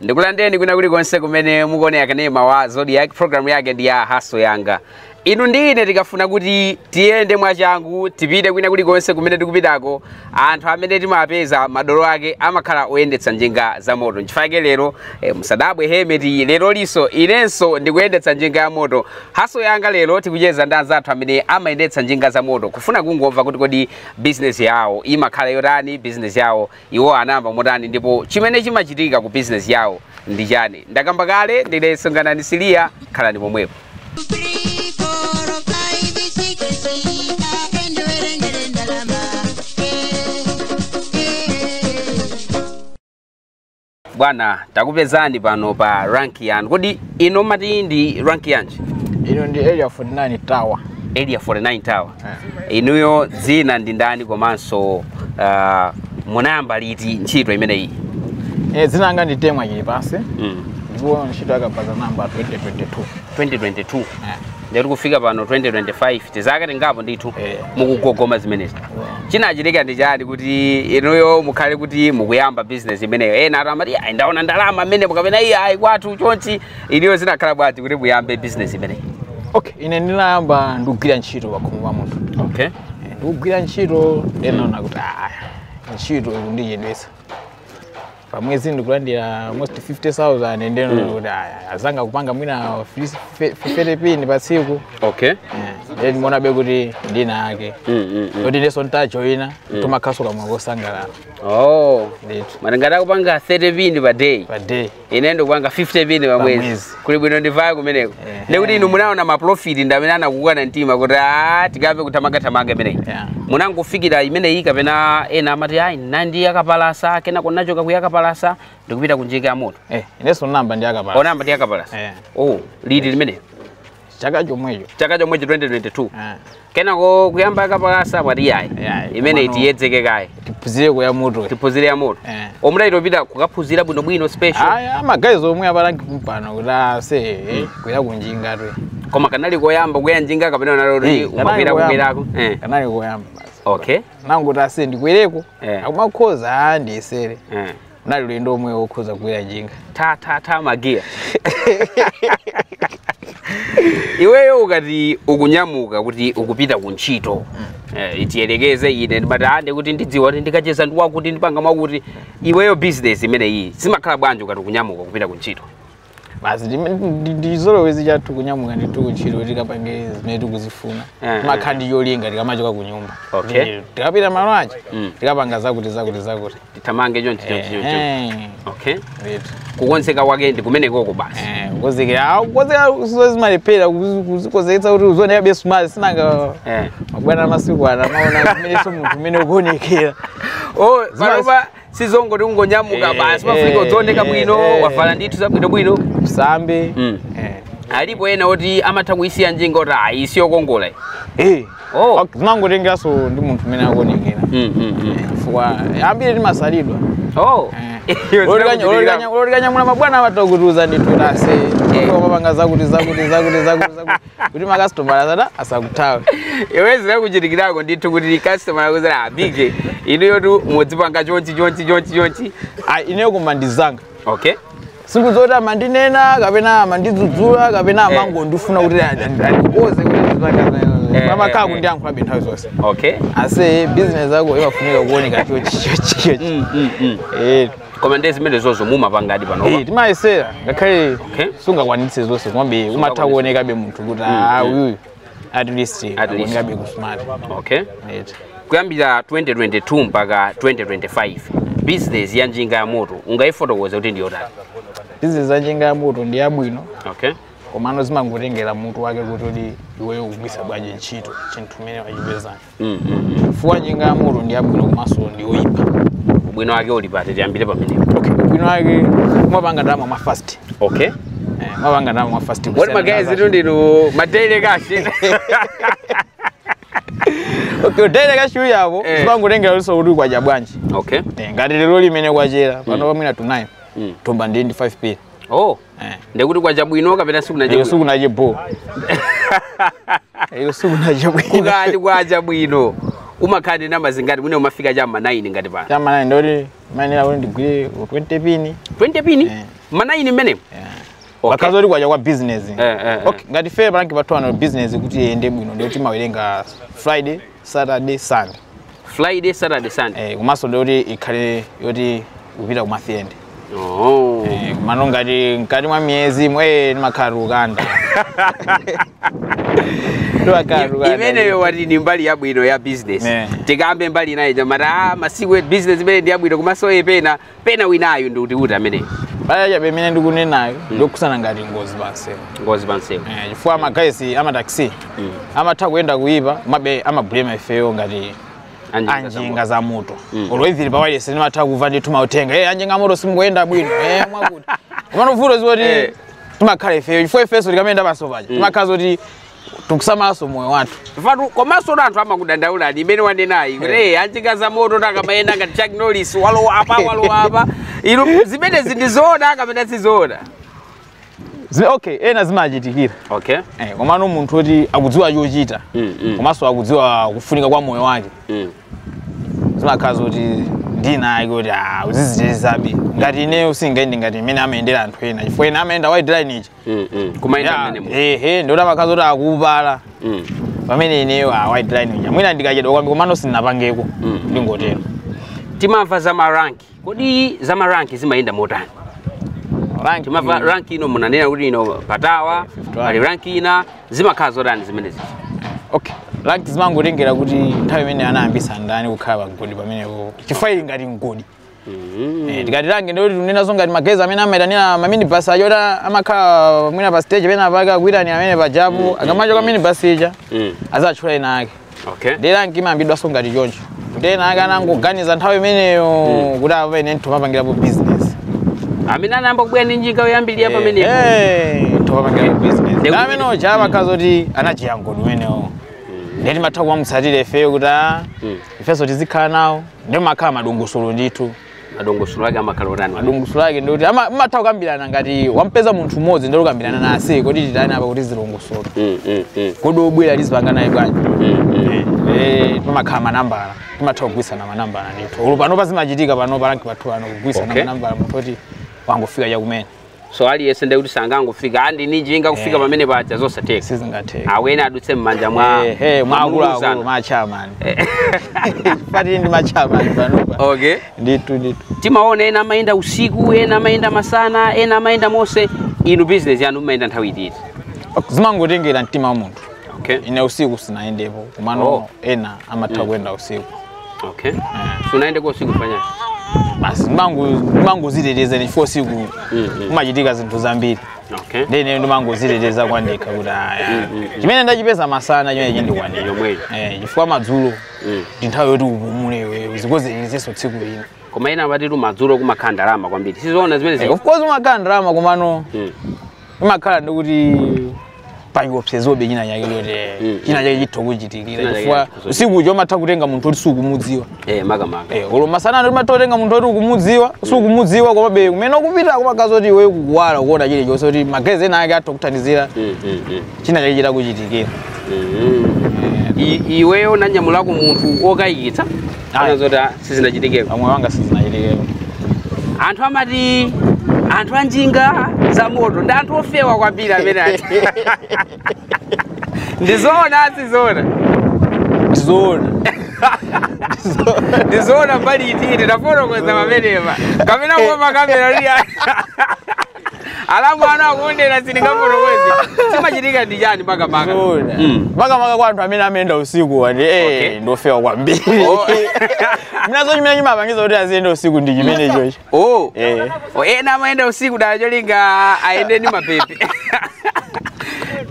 ndikulandeni kwina kulikonse kumene mukuonera kanema wa zodiac programu yake ndi ya hustle yanga inu ndi ine tikafuna kuti tiyende mwachangu tipite kwina kulikonse kumene tikupitako anthu amene timapeza madolo ake amakhala oyendetsa njinga za moto nchifake lero eh, musadabwe helmet lero liso inenso ndikuyendetsa njinga ya moto hustle yanga lero tikucheza ndi anzathu amene amayendetsa njinga za moto kufuna kungomva kuti kodi bizinesi yawo imakhala yotani bizinesi yawo iwo anayamba motani ndipo chimene chimachitika ku bizinesi yawo ndi chiyani ndakamba kale ndine songanani siliya khalani pomwepo bwana takupezani pano pa rank yanu kodi ino mati ndi rank yanji ino ndi area 49 tower area 49 tower Eh. inuyo dzina ndi ndani komanso uh, munayamba liti ntchito imeneyi Eh, dzina langa ndi temwa chilipansi mm. ndipo ntchito yakabaza ndinayamba 2022 2022 Eh. ndikuti kufika pano 2025 tizaka tingapo ndithu Eh. mukugogoma zimenezi chinachitika ndi chani kuti inuyo mukhale kuti mukuyamba business imeneyo ena anthu amati "Ayi, ndaona ndalama mmene kapena iye ayi kwathu chonchi inuyo zinakhala bwanji kuti muyambe business imeneyi okay ine ndinayamba ndikugwira ntchito pakhomo pa munthu okay ndikugwira ntchito ndinaona kuti aya ntchito ikundichedwetsa pamwezi ndikulandira almost 50000 ndeno mm. kuti aya azanga kupanga mwina 50 pin pa tsiku okay eh, ndiye ndimaonabe kuti ndina ake mm, mm, mm. kuti ineso ntajoina mm. tumakhaso kamwe kosangalala oh ndithu mara ngati akupanga 30 pin pa day pa day ine ndikupanga 50 pin pa mwezi pamwezi kuli bwino ndivaye kumeneko Ehe. ndikuti inu munaona maprofiti ndi amene anakukokani mtima kuti a tikamve kuthamanga-thamanga imeneyi Yeah. munangofikira imeneyi kapena ena amati ayi ndinali ndi yakapalasa kenako nachoka kuyakapalasa ndikupita kunjinga ya moto Eh, inenso namba ndi yakapalasa munamba ndi yakapalasa Eh. oh liti limeneyo chaka chomwecho chaka chomwecho 2022 Ah, kenako kuyamba yakapalasa mwati yayi Yeah, imene komano- tiyedzeke kaye tiphunzire kuya moto tiphunzire ya moto Eh. munachito pita kukaphunzira bwinobwino special aya magaye omwe apa rank pompano kuti ase kuya kunjinga tu koma kanali koyamba kuya njinga kapena unaloti Eh, kanali umakwera koyamba. kukwirako Eh. kanali koyamba basi okay nanguti ase ndikwereko Eh. akumakhoza andiyesere Eh. nali ulendo omwe wokhoza kugwira njinga ta ta ta magiya iweyo ukati ukunyamuka kuti ukupita ku ntchito eh, tiyerekeze ine ndimathanso kuti ndidziwa kuti ndikacheza ndiwakuti ndipanga mwakuti iweyo business imeneyi zimakhala bwanji ukati ukunyamuka kupita ku ntchito basi ndime- ndi- ndizolowezi chathu kunyamuka ndithu kuntchito tikapange zimene tikuzifuna Eh, timakhala ndi cholinga tikamachoka ku nyumba Okay. Ndi- tikapita malo aja Mm. tikapanga zakuti zakuti zakuti tithamange chonchi chonchi chonchi Eh, okay ndithu. kukonzeka kwake ndi kumenekoko basi Eh, kukonzekera awu kukonzekera sizo zimalephera kuzi- kuzikonzeketsa kuti uzionekabe smart sinanga eh mabwana amasiku ana amaona kumenenso munthu umene ukuonekera oh panopa sizongoti ungonyamuka Eh, basi pafunika eh, udzioneka eh, bwino eh. wavala ndithu zabwino bwino usambe Mm. eh. alipo ena oti amatha kuyisiya njinga oti ayi siyokongola iyi. Eh. Oh. Ok, zimangotengeranso ndi munthu umene akuonekera Mm, mm, mm. chifukwa ambiri timasalidwa Oh. Eh. Iwe zinakuchitikira. olo tikanyamula mabwana amatha kutiuza ndithu ase Eh. mapanga zakuti zakuti zakuti zakuti zakuti kuti makasitomala azana asakuthawe iwe zinakuchitikirako ndithu kuti kasitomala akuuzera abige inuyotu mudzipanga chonchi chonchi chonchi chonchi Ah, ineyo kuma anzanga okay siku zoti amandinena kapena amandidzudzula kapena amangondifuna kuti andikonze Eh, pamakhala eh, eh. kundiyankhulabe nthawi zonse okay ase business yako imafunika kuoneka chochi chochi chochi Mm, mm, mm. Eh, koma ndiye zimenezozo mumapangadi Eh, panopa timayesera ngakhale Okay. sungakwanitse zonse komabe umatha kuonekabe munthu kuti ah, uyuyu at least least. akuonekabe kusmart okay Eti. kuyambira 2022 mpaka 2025 business ya njinga ya moto ungayifotokoze kuti ndiyotani business ya njinga ya moto ndi yabwino okay komano zimangotengera munthu wake kuti uli iweyo ukugwisa bwanji ntchito chinthu chimene wachipezacho mm, mm, mm. chifukwa njinga ya moto ndi yabwino komanso ndi yoyipa ubwino wake uli pati tiyambire pamenepo okay ubwino wake umapanga ndalama mwa fast okay eh, umapanga ndalama mwa fast woti magazi tu ndi madaily cash okay daily cash uyu yako Eh. zimangotengera luso kuti kwacha bwanji okay Eh, ngati lero mmene kwachera pano pamwina to 9 Mm. ndomba ndi ndi 5 pin oh Eh. ndekuti kwacha bwino kapena sikunacha bwino sikunacha bho iyo sikunacha bwino ukati kwacha bwino umakhala ndi ndalama zingati mwina umafika cha ma 9 ngati pano cha ma 9 ndimayenera kuti ndigwire 20 pini 20 pini yeah. ma 9 mmenemo yeah. okay. bakhaza kuti kwacha kwa business eh, eh, eh. okay. ngati ife panange pathu ano business kuti iyende bwino ndikuti timawerenga friday Saturday, Sunday. Friday, Saturday, Sunday. Eh, komanso ndi yoti ikhale yoti kupita ku month end. Oh. Eh, komano ngati mkati mwa mwezimu ndimakhala tikukanda. Ndimakhala I- tikukanda. imeneyo wati ni mbali yabwino ya business Eh. tikambe mbali inayo amati ah, masiku e business imene ndi yabwino komanso epena pena winayu ndi utiuti amene paja chabe imene ndikunenayo ndi yokhudzana ngati ngozi pansewu ngozi pansewu Eh, chifukwa magaizi amataxi amatha kuyenda kuyipa komabe amablema ifeyo ngati Anjinga anjinga za moto olo ivini pawayilesi timatha kuva ndithu mautenga e anjinga moto simukuyenda bwino e mwakuti komano vuto Eh. zoti timakhala ifeyo chifukwa ifenso tikamayenda pansewu paja timakhala zoti tikusamalanso moyo wathu Phatu komanso kuti anthu amakudandaula ndi imene wanenayi kuti hey, anjinga za moto takamayenda ngati Chuck Norris walowa apa walowa apa inu zimenezi ndi zoona kapena si zoona Zime- okay ena zimachitikira okay Eh, komano munthu oti akudziwa chochita Mm, mm. komanso akudziwa kufunika kwa moyo wake mm. zimakhala zoti ndi wina wake kuti uzizichitisabe ngati ineyo sindingayende ngati imene amayendera anthu ena chifukwa ena amayenda white line ichi Mm, mm. kumayenda Ya, mmene mu ehe ndiye kuti amakhala zoti akupala Mm, pamene ineyo a white line uja mwina ndikachedwa kwambiri komano sindinapangeko Mm. ndingotero timamva za maranki kodi za maranki zimayenda motani rank timamva rank ino munanena kuti ino patawa Fifty one. ali ranki ina zimakhala zotani zimenezi okay rank zimangotengera kuti nthawi imene anayambisa ndani kukhala pamgodi pamenepo chifukwa ili ngati mgodi Eh, tikati rank ndiye tikunenanso ngati magaizi amene amaitanira maminibus aja oti amakhala mwina pa stage penapake akuitanira amene pajapa akamachoka minibus ija Mm. azatchula wina wake Okay. nde rank imayambidwanso ngati choncho kuti ena ake anangoganiza nthawi imeneyo kuti apa ine nditha kumapangirapo business Amene anayamba kubwera ndi njinga yoyambirira pamenepo. nditha kumapangirapo business Ndekuti- amene uja amakhala zoti ndi cheyamani ameneyo nde timatha kumamutsatira ifeyo kuti a Mm. ifenso tizikhala nawo Ndiye pamakhala madongosolo ndithu. Madongosolo ake amakhala otani? Madongosolo ake ndi oti amatha kukambirana ngati wampeza munthu mmodzi ndiye kukambirana naye kodi titani apa kuti zilongosoke. Mm, mm, mm. Kodi obwera tizipanga naye bwanji? Mm, mm. Eh, pamakhala manambala. Timatha kugwiritsana manambala ndithu. Olo pano apa zimachitika pano parank pathu pano kugwiritsana okay. manambala munthu oti wangofika chakumene. so aliyense ndekuti sangangofika ali ndi njinga kufika Eh. pamene paja zosatheka sizingatheke ayenera adutse m'manja mwa Eh, eh, mwa akuluakulu mwa akuluakulu. machairman pali ndi machairman panopa okay ndithu ndithu timaona ena amayenda usiku ena amayenda masana ena amayenda monse inu business yanu imayenda nthawi iti zimangotengera mtima wa munthu okay ine usiku sindinayendepo komano Oh. ena amatha kuyenda usiku Okay. Simunayendeko usiku chifukwa chiyani. Basi ndimango ndimangodziteteza ine chifukwa usiku Mm, mm. kumachitika zinthu zambiri. Okay. Ndiye ine ndimangodziteteza kwa ndekha kuti ayi. Chimene ndachipeza masana chimene chindikwanira. Yomweyo. Eh, chifukwa madzulo Mm. ndi nthawi yoti upumule iwe uzikonzerenso tsiku lina. Koma ena amatitu madzulo kumakhala ndalama kwambiri. Sizoona zimene Eh, zi. of course kumakhala ndalama komano Mm. imakhala ndi kuti pachiopsezobe china chake kuti Mm. china chake chitha kuchitikira China chake chifukwa chitha kuchitikira. usiku ujo umatha kutenga munthu oti sukumudziwa eh makamaka Eh, olo masana timatha kutenga munthu oti ukumudziwa sukumudziwa komabe kumene ukupita kumakhala zoti iwe kukuwala ukuona chilichonse kuti magayizi ena ake atha kuthandizira Mm, mm, mm. china chake chitakuchitikira Mm. I- iweyo unanyamulako munthu okayikitsa ana zoti ah, sizinachitikeko pamoyo wanga sizinachitikeko anthu amati anthu anjinga za moto ndi anthu ofewa kwambiri amene ati ndizoona sizoona zoona ndizoona mbali iti tafotokoza pamenepa kapena kuopa kamera lia alamu ana akuondera sindingafotokoze chimachitika ndi chani makamaka makamaka Zoona. Mm. makamaka kwa anthu amene amayenda usiku ati Okay. eh ndofewa kwambiri Oh. mwina nzo chimene chimapangiza kuti aziyenda usiku ndi chimene chocho oh Eh. Oh, ena amayenda usiku dala cholinga ayende ndi mabebe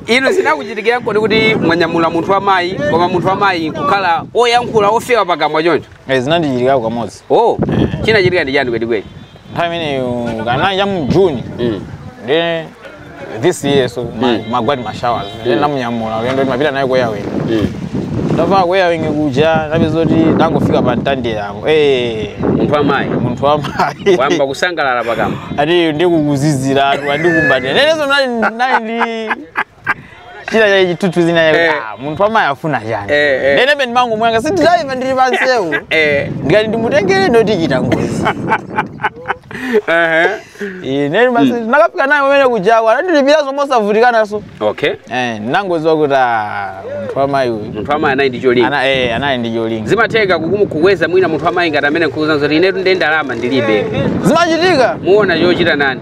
inu sinakuchitikira kodi kuti mwanyamula munthu wa mayi koma munthu wa mayi kukhala oyankhula ofewa pakamwa choncho Eh, zinandichitikirako kamodzi oh chinachitika ndi chani kwenikweni nthawi imeneyo kanali cha mu june Mm. nde this year so ma- Mm. kumagwa timashawa nde namunyamula kuyenda kuti mapita naye kuyawini Mm. ndava kuyawini kuja napeza kuti ndangofika pa Mtandire apo Eh, munthu amayi munthu wamayi wayamba kusangalala pakamwa ati ndikukuziziratu andikumbatira neneso nali nali ndi chira cha ichi tutu zina Eh. ah, munthu wamayi afuna chani Eh, eh. ndene peni mangu mwanga ndi driver ndili pansewu Eh. ndikati ndimutengere ndoti tichita ngozi Ehe. ine basi nakafika naye kumene kujako anandilipira zomwe osavutikanaso Okay. eh nangoziwa kuti ah, munthu wamayi uyu Munthu wamayi anali ndi cholinga. ana eh anali ndi cholinga Zimatheka kukumu- kukweza mwina munthu wamayi ngati amene nkukuuza kuti inetu ndi ndalama ndilibe. zimachitika Muona chochita nane?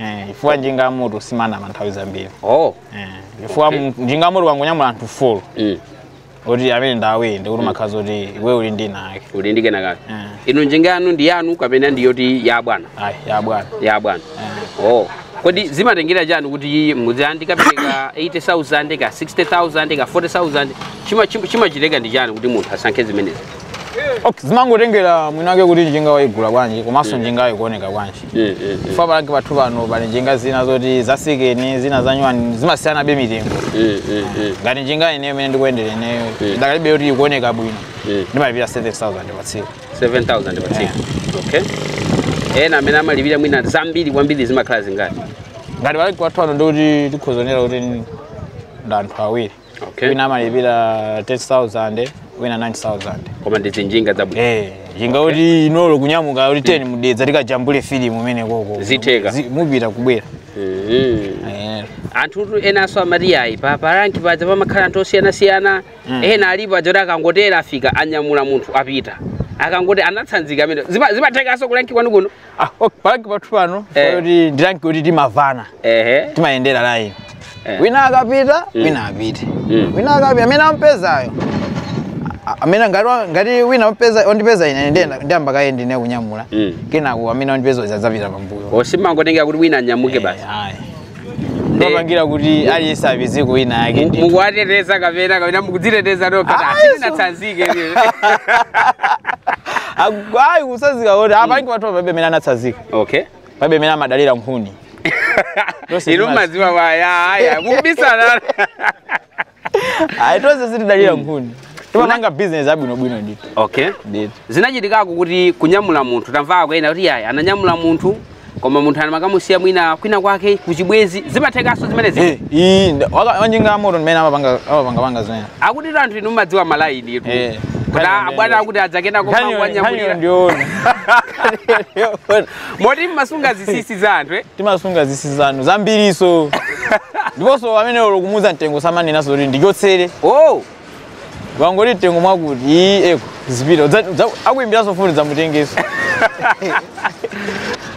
Eh, chifukwa njinga ya moto simanama nthawi zambiri oh Eh, chifukwa mu- njinga ya moto ukangonyamula anthu folo mm. oti amene ndi awiri ndikuti umakhala zoti iwe uli ndi kena kake uli ndi kena kake Mm. inu njinga yanu ndi yanu kapena ndi yoti ya bwana ayi ya bwana ya bwana oh kodi zimatengera chani kuti mudzandikapereka 80000 ka 60000 ka 40000 Chima- chima- chimachitika ndi chani kuti munthu asankhe zimenezi Okay, zimangotengera mwinake kuti njinga waigula bwanji komanso njinga yako ikuoneka bwanji Eh, eh, eh. chifukwa pa lanki pathu pano pali njinga zina zoti zasikeni zina za nyuwani zimasiyanabe mitengo Eh, eh, eh. ngati njinga ineyo imene ndikuyendera ineyo Eh. idakalibe yoti ikuoneka bwino Eh. ndimalipira 7000 pa tsiku 7000 pa tsiku okay ena amene amalipira mwina zambiri kwambiri zimakhala zingati ngati pa lanki pathu pano ndikuti tikhoza nena kuti ndi anthu awiri okay wina amalipira 10000 wina 9000 koma ndi njinga zabwino Eh, njinga kuti inolo kunyamuka kuti tye ku Dedza tikajambule filimu umeneko uko Zitheka. Zi- mupita kubwera Mhm. Eh, anthu enanso amati ayi pa paranki paja pamakhala anthu osiyanasiyana ena alipo aja oti akangotera afika anyamula munthu apita akangoti anatsanzika amene Zima- zimathekanso kuranki kwanu kuno Ah, ok, paranki pathu pano Eh. kuti ndi ranki yoti timavana ehe timayendera laini Eh. wina akapita wina apite Mm. wina akapita amene ampezayo a- amene ngati wa- ngati wina ampeza ondipeza ine ndiyenda ndiyamba kaye ndine kunyamula Mm. kenako amene ondipeza uja adzapita pambuyo osamangotengera kuti wina anyamuke basi Eh, ayi. Ndikupangira kuti aliyense apeze wina wake ndi. mukuwateteza kapena kapena mukudziteteza nokha Ah, Yesu. asinatsanzike Agwayi kutsanzika kuti apa ndi watu pabe mena anatsazika. okay Pabe amene amadalira nkhuni. Lose inu zimazi. mumadziwa waya aya mukubisana ayi tonse sitidalira nkhuni timapanga business abwinobwino ndithu okay zinachitikako kuti kunyamula munthu tamvako ena kuti ayi ananyamula munthu koma munthu anamakamusiya mwina kwina kwake kuchibwezi zimathekanso zimenezi Eh, iyi nda- waka- wanjinga ya moto ndi amene amapanga amapangapanga zimenezo akuti tu anthu inu mumadziwa malaini tu Eh. kuti abwana akuti adzakena koma Nkhaniyo- nkhaniyo kwanyamulia ndiyoona moti mumasunga zinsinsi za anthu eh? timasunga zinsinsi za anthu zambiriso ndiponso amene olo kumuuza mtengo samanenanso kuti ndichotsere oh wangoti mtengo mwakuti iyi eko zipita Udza- udza- akuimbiranso foni dzamutengeso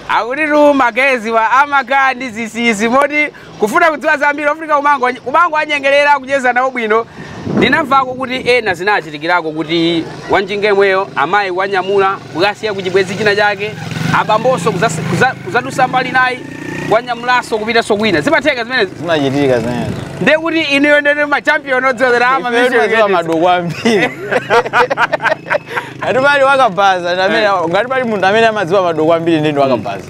akutitu magayezi awa amakhala ndi zinsinsi moti Kufuna kudziwa zambiri ofunika kumango kumango anyengerera kucheza nawo bwino ndinamvako kuti ena zinachitikirako kuti wanjinga yemweyo amayi kuwanyamula kukasiya kuchibwenzi china chake abambonso kuzas- kuza- kuzadusa mbali inayi kuwanyamulanso kupitanso kwina zimatheka zimenezi zimachitika zimenezo ndiye kuti inuyo ndinu machampion odziwa ama madoko ambiri ngati pali wakabaza amene ngati pali munthu amene amadziwa madoko ambiri ndi ndi wakabaza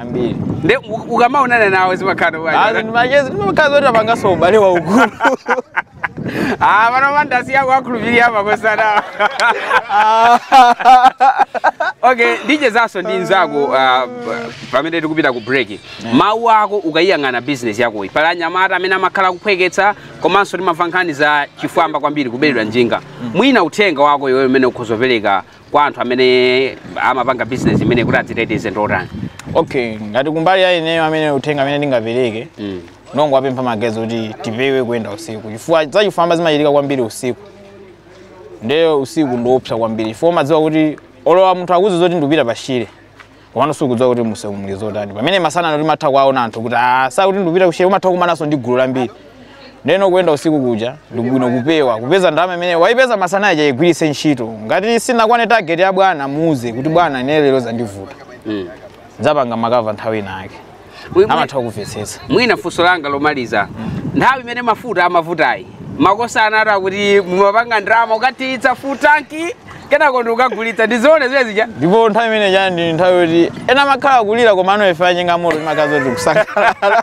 ambiri nde u- ukamaonana nawo zimakhala bwanji ndimachezi ndimakhala zoti apanganso ubale waukulu ah pano mandasi yako akhulupirira makosana okay ndichezanso ndi nzako uh, pamene tikupita ku break mawu ako ukayiyang'ana business yakoyi pali anyamata amene amakhala akuphweketsa komanso timamva nkhani za chifwamba kwambiri kubedwa njinga mwina uthenga wako iweyo umene ukhoza kupereka kwa anthu amene amapanga business imeneyi kuti adziteteze ndi otani okay ngati kumbali ya ineyo amene uthenga amene ndingapereke Mm. ndongowapempha magayezi oti tipewe kuyenda usiku chifukwa zachifwamba zimachitika kwambiri usiku ndiye usiku ndiopsa kwambiri chifukwa umadziwa kuti olowa munthu akuzi zoti ndikupita patchire komano sukudziwa kuti mumseu muli zotani pamene masana ano timatha kuwaona anthu kuti "Ah, sakuti ndikupita ku Shire umatha kumananso ndi gulu lambiri ndeno kuyenda usiku kuja ndibwino kupewa kupeza ndalama imene waipeza masana aja igwiritse ntchito ngati sinakwane target ya bwana muuze kuti bwana ine lero zandivuta ndizapanga ma cover nthawi ina yake Mwi- mwi- amatha kumvetsetsa mwina funso langa lomaliza nthawi imene mafuta amavutayi makosana ena akuti mumapanga ndalama ukathiritsa full tanki kenako ndikukagulitsa ndizoona zimene zija ndipo nthawi imene chani ndi nthawi yoti ena amakhala akulira koma inuyo a njinga ya moto mumakhala kuti kusangalala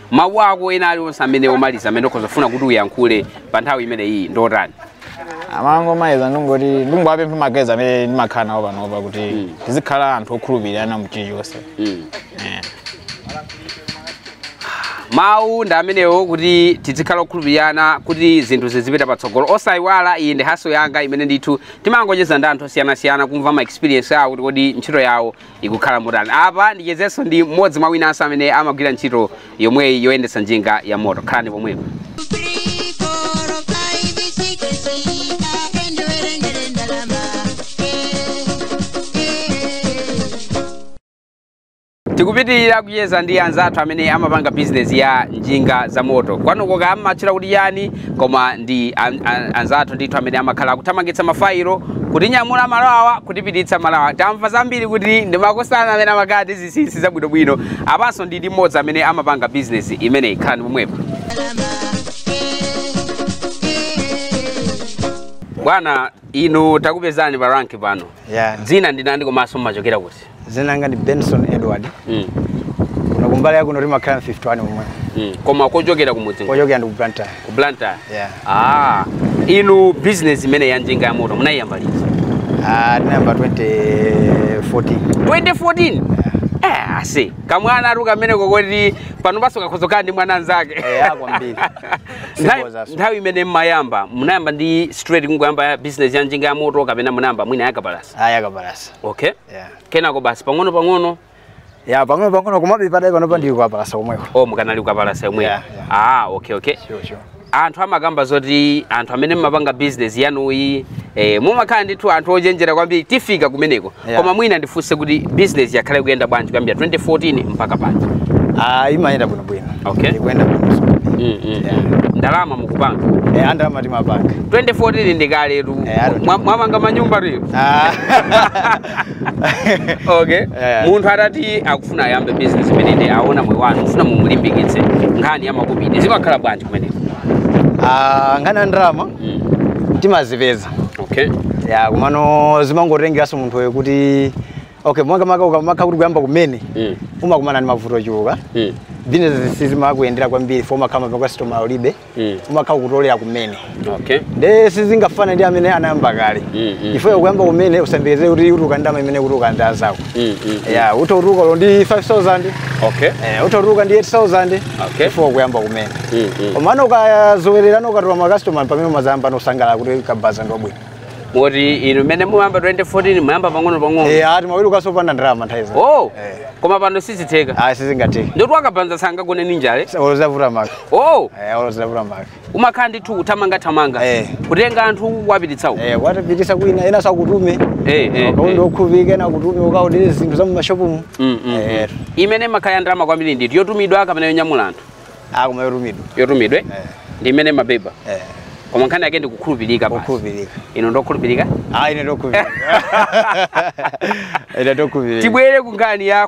mawu ako ena alionse amene omaliza amene ukhoza kufuna kuti uyankhule pa nthawi imene iyi ndi otani mawu omaliza ndingoti ndingowapempha ma guys amene ndimakhala nawo panopa kuti tizikhala anthu okhulupirana mu chilichonse mm. Eh. mawu ndi amenewo kuti tizikhala okhulupirana kuti zinthu zizipita patsogolo osayiwala iyi ndi haso yanga imene ndithu timangocheza ndi anthu osiyanasiyana kumva ma experience awo kuti kodi ntchito yawo ikukhala motani apa ndichezenso ndi mmodzi mwa winanso amene amagwira ntchito yomweyi yoyendetsa njinga ya moto khalani pomwepo tikupitirira kucheza ndi anzathu amene amapanga bizinesi ya njinga za moto kwanuko kaya mumatchula kuti chani koma ndi an, an, anzathu ndithu amene amakhala akuthamangitsa mafailo kutinyamula malo awa kutipititsa malo awa tamva zambiri kuti ndi makosana amene amakhala ndi zinsinsi zabwinobwino apanso ndili ndi mmodzi amene amapanga bizinesi imeneyi khalani pomwepo bwana inu takupezani pa ranki pano ya dzina ndi ndani komanso mumachokera kuti dzina langa ndi benson edward Mm, kuno kumbali yakuno timakhala ku 51 komwe mm. koma kochokera kumudzi kochokera ndi ku blantyre ku blantyre Yeah. ah, inu business imene ya njinga ya moto munayiyamba liti Ah, tinayamba 2014 2014 eh, ase kamwana ali kamene kokoti pano paso kakhozokaa ndi mwana anzake eya kwambiri Nthawi- nthawi imene mmayamba munayamba ndi straight kungoyamba ya business ya njinga ya moto kapena munayamba mwina yakapalasa aya kapalasa okay yeah. kenako basi pang'ono pang'ono ya pang'ono pang'ono komabe mpaka panopa ndili kapalasa komweko o mukadali kukapalasa komweko Yeah, yeah. ah okay okay Sure, sure. anthu amakamba zoti anthu amene mmapanga business yanuyi eh, mumakhala ndithu anthu ochenjera kwambiri tifika kumeneko Yeah. koma mwina ndifunse kuti business yakhala ikuyenda bwanji kuyambira 2014 mpaka pano Ah, imayenda bwino bwino. Okay. Ikuyenda bwino. mm, mm. Yeah. ndalama mukupanga Eh, ndalama timapanga. 2014 ndikaletu Eh, I don't Mwa- mwamanga manyumba lero Ah. okay Yeah. munthu atati akufuna ayambe business imeneyi aona moyo wanu ufuna mumulimbikitse nkhani ya makobidi zimakhala bwanji kumeneko Ah, nkhani ya ndalama timazipeza okay ya komano zimangotengeranso munthuyo kuti okay makamaka ukamakha kuti kuyamba kumene Mm. umakumana ndi mavuto ochuluka Mm. business sizimakuyendera kwambiri fo umakhala ma customer ulibe Mm. umakha ukutolera kumene okay nde sizingafana ndi amene anayamba kale Mm, mm, ifeyo kuyamba kumene usayembekeze kuti utuluka ndama imene akutuluka anzako Mm, mm, ya utha kutuluka olo ndi 5000 okay eh, utha kutuluka ndi 8000 Okay. ifo ukuyamba kumene Mm, mm. komano ukazowererana ukatola makasitoma pamene umazayambano kusangalala kuti kabaza ndi wabwino moti inu mmene munayamba 2014 munayamba pang'ono pang'ono Eh, ati mawiri ukhaso opanda ndalama nthawi zina oh Eh. koma pano sizitheka ayi sizingatheke ndoti wakabaza sangagone ndi njala olo zitavuta maka oh olo zitavuta maka umakhala ndithu kuthamanga thamanga eh. kutenga anthu kuwapititsa uko eh, kuwapititsa kwina enaso akutume eh, eh, ukaonde eh. okhulupirika ena akutume ukaodere zinthu za mumashopumu mm, mm, eh. mm. imene imakhala ya ndalama kwambiri ndi iti yotumidwa kapena yonyamula anthu ah, koma yotumidwa yotumidwe eh. ndi imene imabeba eh. koma nkhani yake ndi kukhulupirika basi kukhulupirika inu ndinu okhulupirika ah ine ndi okhulupirika ine ndi okhulupirika tibwere ku nkhani ya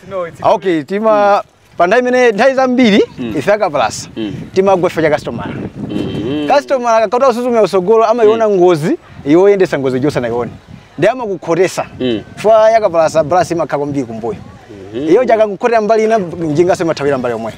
okay tima pa nthawi imene nthawi zambiri ife akapalasa timagwa ife ifa cha customer customer akakha akusuzumira kusogolo amaiona ngozi iwe oyendesa ngozi ijo usanayione nde amakukhotesa fa yakapalasa balansi imakhala kwambiri kumbuyo iyeyo akakhotera mbali ina njingaso imathawira mbali yomweyo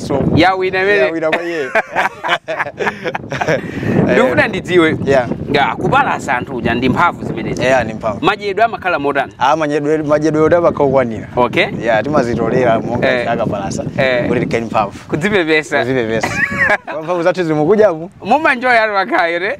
so yawina imene yawina kwa iye ndikufuna ndidziwe Yeah. ya kupalasa anthu kuja ndi mphamvu zimenezi eya ndi mphamvu madyedwe amakhala motani Ah, madyedwe madyedwe oti amakha okwanira okay ya timazitolera Eh. monga akapalasa Eh. kuti tikhale ndi mphamvu kuzipepesa kuzipepesa mphamvu zathu zili mukujamu mumanjoya ali makhayo ne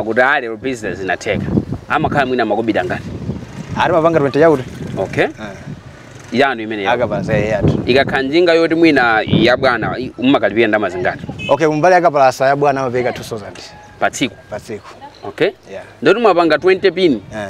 akuti ah lero business yatheka amakhala mwina makobidi angati ah timapanga 20 yakuti okay yanu imene yako yakapalasa ya atu ikakhala njinga yoti mwina ya bwana i- mumakalipira ndalama zingati okay kumbali akapalasa ya bwana amapereka 2000 pa tsiku pa tsiku okay Yeah. ndoti mwapanga 20 pin Eh.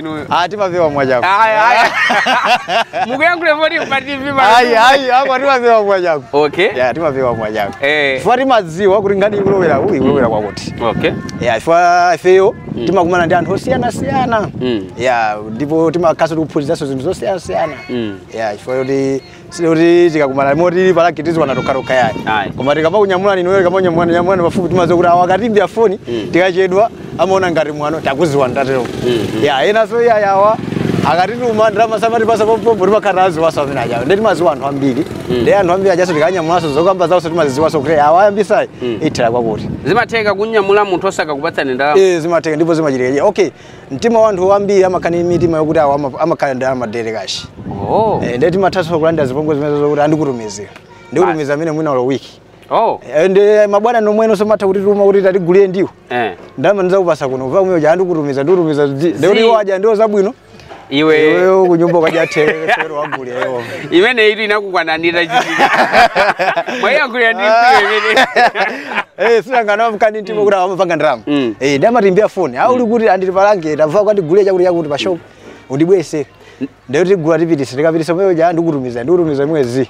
inuyo Ah, timabeba mwachake. Aya, aya. mukuyankhulira moti pa tv pa- Ayi, ayi, apa timabeba mwachake. okay Yeah, timabeba mwachake. eh Chifukwa timadziwa kuti nkhani ikulowera iyi ikulowera kwakuti. okay Yeah, chifukwa ifeyo timakumana ndi anthu osiyanasiyana. Mm. Yeah, ndipo timakhaso tikuphunziranso zinthu zosiyanasiyana. Mm. Yeah, chifukwa kuti kuti tikakumana mwati pa rank tiziwana tokhatokha yayi Ayi. koma tikamakunyamulani inuyo tikamakunyamulani nyamulani pafupi timadziwa kuti awa akatiimbira foni tikachedwa amaona ngati mwano takuziwani tikatero ya enanso iyayi awa akatituma ndalama samatipasa pompompo timakha tawaziwaso amene ajawo nde timaziwa anthu ambiri ndi anthu ambiri ajaso tikawanyamulanso zokamba zaonso timaziziwaso kuti awa ayambisa iyi ithera kwakuti zimatheka kunyamula munthu osakakupatsani ndalama Eh, zimatheka ndipo zimachitika okay mtima wa anthu ambiri amakhala ndi mitima yokuti awo ama- amakhala ndi madera kashi oh. Eh, ndiye timathanso kulandira zipongwe zimene zokuti a ndikutumizira ndikutumiza amene mwina olo wiki oh. Eh, ndi mabwana omwewonso amatha kutituma kuti tatigulire ndiwo eh. ndalama ndizakupasa kuno wapa um'mweo uja ndikutumiza ndikutumiza Zi. ndikuti iwo aja ndiwo zabwino iwe iweyo kunyumba ukadya therere wagulirayo imene itu inakukwananira chitika mwayankhulira ndi mkwiyo imene Eh, sinanga amakhala ndi mtima wokuti amapanga ndalama Mm. Eh, ndi amatiimbira foni uli kuti a ndili pa rank tandigulire chakuti chakuti pa shop undibweretse nde tigula tipitise tikapitisa mweyo ja ndikutumiza ndikutumiza mwezi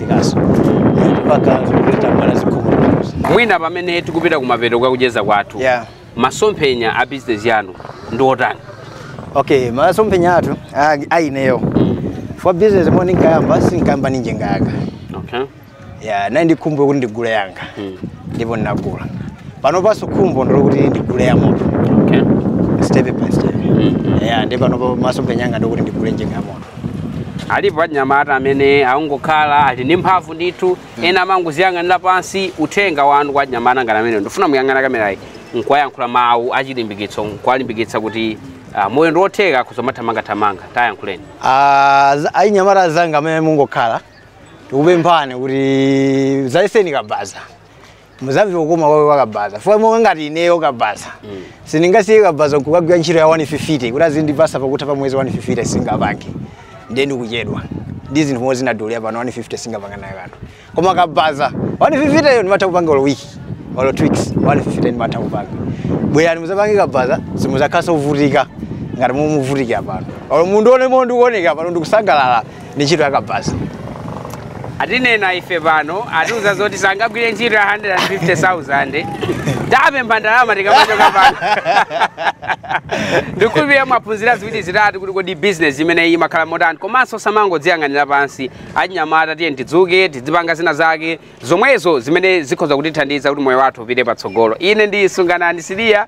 Zimachitikaso kuti pamakhala anthu oti samalankhula zikomo munthuzi. Mwina pamene tikupita kumapeto kwa kucheza kwathu, Yeah. masomphenya a bizinesi yanu ndi otani? Okay, masomphenya athu a- a ineyo. Fo business mmene ndinkayamba sinkayamba ndi njinga yanga. Okay. Ya, ndinali ndi khumbo kuti ndigule yanga. Mm. Ndipo ndinagula. Panopanso khumbo ndi lokuti ndigule ya moto. Okay. Step by step. Mm. Ya, ndipo pano masomphenya anga ndikuti ndigule njinga ya moto. alipo anyamata amene akungokhala ali ndi mphamvu ndithu ena amangoziyang'anira pansi uthenga wanu kwa anyamata ngati amenewo ndifuna muyang'ane kamerayi nkuwayankhula mawu achilimbikitso nkuwalimbikitsa kuti ah, moyo ndi wotheka akhoza kumathamangathamanga tayankhuleni Ah, za- achinyamata azanga amene mungokhala tikupemphani kuti zayeseni kabaza muzamve kukoma kwake wakabaza fo monga ngati ineyo kabaza sindingasiye kabaza kukagwira ntchito ya 150 kuti azindipasa pakutha pa mwezi 150 singapange ndiye ndikuchedwa ndi zinthu mmo zinadulira pano 150 singapanga nayo kanthu koma kabaza 150 yo ndimatha kupanga olo wiki olo two weeks 150 ndimatha kupanga bwerani muzapange kabaza simuzakhalaso mukuvutika ngati mmo mukuvutikira pano olo mundione mmo ndikuoneka pano ndikusangalala ndi ntchito ya kabaza atinena ife pano atiuza zoti sangagwire ntchito ya 150000 akupha ndalama tikamachoka pano ndikhulupirira mwaphunzira ziwiri zitatu kuti kodi business imene iyi imakhala motani komanso osamangodziyang'anira pansi achinyamata tiye tidzuke tidzipanga zina zake zomwezo zimene zikhoza kutithandiza kuti moyo wathu upite patsogolo ine ndi Sunganani Siliya